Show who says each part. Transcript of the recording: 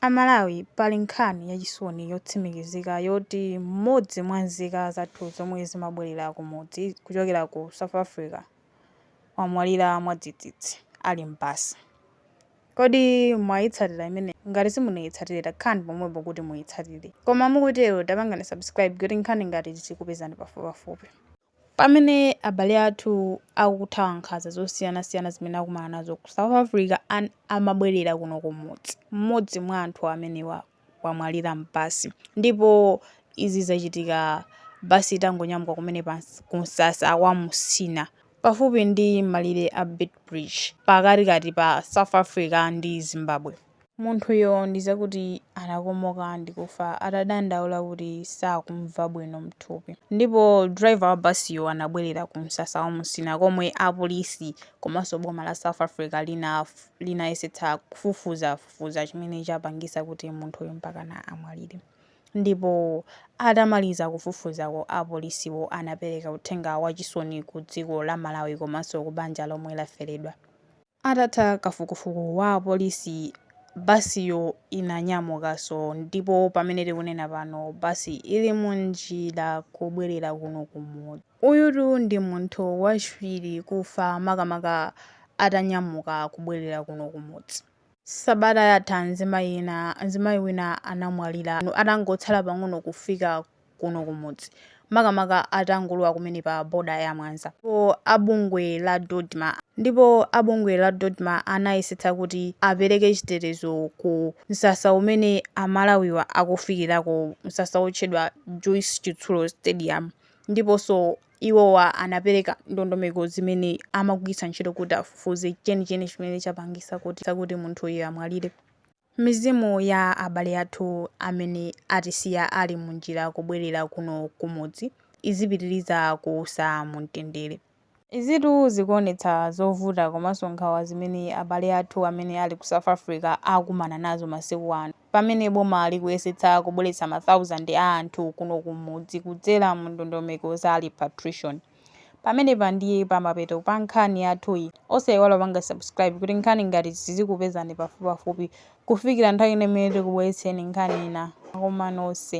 Speaker 1: A Malawi pali nkhani yachisoni yotsimikizika yoti mmodzi mwa nzika zathu zomwe zimabwelera kumudzi kuchokera ku South Africa wamwalira mwadzidzidzi ali m'basi. Kodi mwayitsatira imeneyi? Ngati simunaitsatire takhalani pomwepo kuti muyitsatire. Koma mukutero tapangani subscribe kuti nkhani ngati izi zizikupezani pafupipafupi. Pamene abale athu akuthawa nkhanza zosiyanasiyana zimene akumana nazo ku South Africa amabwerera kuno kumudzi, mmodzi mwa anthu amenewa wamwalira m'basi ndipo izi zachitika basi itangonyamuka kumene ku msasa wa Musina pafupi ndi malire a Beitbridge pakatikati pa South Africa ndi Zimbabwe. Munthuyo ndi zakuti anakomoka ndi kufa atadandaula kuti sakumva bwino mthupi. Ndipo driver wa basiyo anabwelera ku msasa wa Musina komwe apolisi komanso boma la South Africa linayesetsa kufufuzafufuza chimene chapangisa kuti munthuyo mpakana amwalire. Ndipo atamaliza kufufuzako apolisiwo anapeleka uthenga wa chisoni ku dziko la Malawi komanso ku banja lomwe lafeledwa. Atatha kafukufuku wa apolisi, basiyo inanyamukanso ndipo pamene tikunena pano basi ili mu njira kubwerera kuno ku mudzi. Uyutu ndi munthu wachiwiri kufa makamaka atanyamuka kubwerera kuno ku mudzi. Sabata yatha mzimayi wina anamwalira atangotsala pang'ono kufika kuno kumudzi makamaka atangolowa kumene pa boda ya Mwanza ndipo abungwe la Dodma anayesetsa kuti apereke chitetezo ku msasa umene amalawiwa akufikirako msasa wotchedwa Joyce Chitsulo Stadium ndiponso iwowa anapereka ndondomeko zimene amagwiritsa ntchito kuti afufuze chenicheni chimene chapangisa kuti munthuyu amwalire. Mizimu ya abale athu amene atisiya ali munjira kubwelera kuno kumudzi izipitiliza kuusa mumtendere. Izitu zikuonetsa zovuta komanso nkhawa zimene abale athu amene ali ku South Africa akumana nazo masiku ano pamene boma likuyesetsa kubweretsa ma thousand a anthu kuno kumudzi kudzera mu ndondomeko za repatriation. Pamenepa ndiye pamapeto pa nkhani yathuyi. Osaiwala kupanga subscribe kuti nkhani ngati izi zizikupezani pafupipafupi kufikira nthawi ina imene tikubweretsereni nkhani ina. Zikomo nonse.